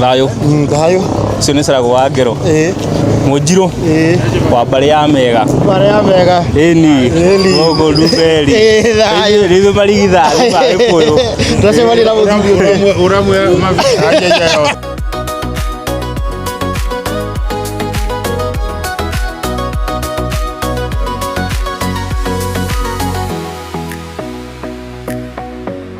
thayå thayå ũcio nä carago wa ngero ĩĩ munjirå ĩĩ wa mbarä ya mega marĩa mega ĩni Ĩni. gogo ruberi Ĩĩ, thayũ. rithå marigithathi ma gä kå yå tũcemania na mũthuri ũmwe Uramwe mavi.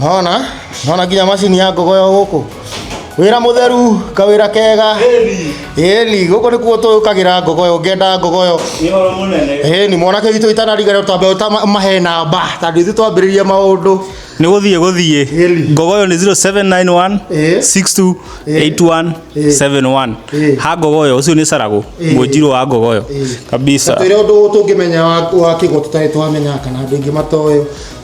Nona, nona nginya macini ya ngogo yo gũkũ wĩra mũtheru kawĩra kega ĩni gũkũ nĩkuo tũkagira ngogo yo ngenda ngogo yo ĩni mwanake witũ itanariga rĩo twambe ũta- mahe namba tandũ ithu twambĩrĩria maũndũ nä gå thiä gå thiä Heli. ngogo yo nä 0791 Eh. 62 Eh. 81 Eh. 71 Eh. ha ngogo yo å cio nä caragå Eh. må njirå wa ngogo yo Eh. kabisa twä re å ndå tå ngä menya wa kä go tå tarä twamenya kana andå ingä matoä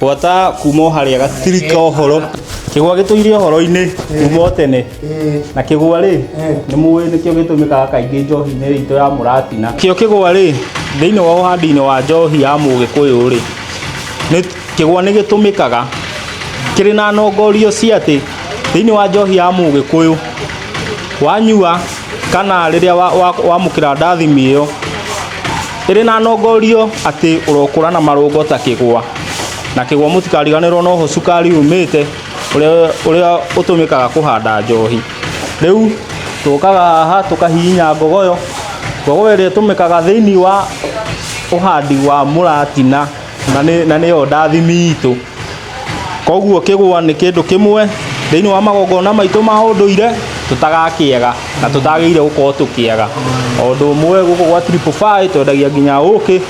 Gwata kuma o harĩa gatirika ũhoro kĩgwa gĩtũire ũhoro-inĩ kuma o tene na kĩgwa rĩ nĩ mũĩ nĩkĩo gĩtũmĩkaga kaingĩ njohi-inĩ itũ ya mũratina kĩo kĩgwa rĩ thĩinĩ wa ũhandi-inĩ wa njohi ya mũgĩkũyũ rĩ nĩ- kĩgwa nĩ gĩtũmĩkaga kĩrĩ na nongorio cia atĩ thĩinĩ wa njohi ya mũgĩkũyũ wanyua kana rĩrĩa wa- wa- wamũkĩra ndathimi ĩyo ĩrĩ na nongorio atĩ ũrokũra na marũngo ta kĩgwa. Na kĩgwa mũtikariganĩrwo noho cukari umĩte ũrĩa, ũrĩa ũtũmĩkaga kũhanda njohi. Rĩu tũkaga haha tũkahihinya ngogoyo, ngogoyo ĩrĩa ĩtũmĩkaga thĩinĩ wa ũhandi wa mũratina. na nĩ na nĩyo ndathimi itũ koguo kĩgwa nĩ kĩndũ kĩmwe thĩinĩ wa magongona maitũ ma ũndũire tũtagakĩaga na tũtagĩrĩire gũkorwo tũkĩaga o ũndũ ũmwe gũkũ gwa triple five twendagia nginya ũkĩ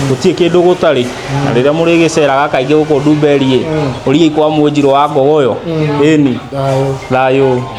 gũtirĩ kĩndũ gũtarĩ na rĩrĩa mũrĩgĩceraga kaingĩ gũkũ ndumberĩ ũriai kwa mwĩnjirũ wa ngogoyo ĩni thayũ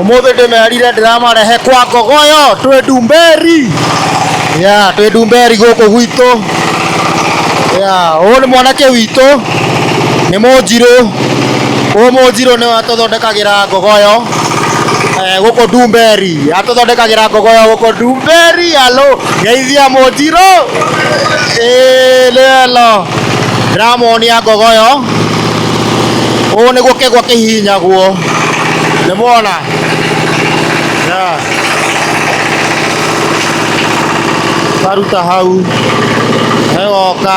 umuthi ndimerire ndiramarehe kwa ngogoyo twi ndumberi ya twi ndumberi guku gwitũ ya ũyũ nĩ mwanake witũ Nĩ mũnjirũ, ũyũ mũnjirũ nĩwe atũthondekagĩra ngogoyo eh, gũkũ Ndumberi, atũthondekagĩra ngogoyo gũkũ Ndumberi, alo geithia mũnjirũ Eh, nĩ elo ndĩramuonia ngogoyo, ũũ nĩguo kĩgwa kĩhihinyagwo, nĩ muona yeah. Karuta hau, egoka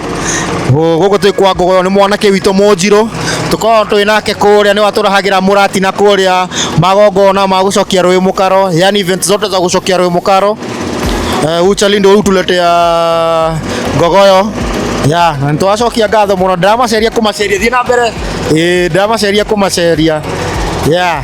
Gũkũ twĩ kwa Ngogoyo nĩ mwanake witũ Mũnjirũ, tũkoragwo twĩ nake kũrĩa nĩwe atũrehagĩra mũratina kũrĩa magongona ma gũcokia rũĩ mũkaro, yaani events zote za gũcokia rũĩ mũkaro. Eh, Uchali ndio hutuletea Ngogoyo. Ya, na nitwacokia ngatho mũno, ndĩramaceria kũmaceria, thiĩ na mbere. Ĩĩ, ndĩramaceria kũmaceria. Ya.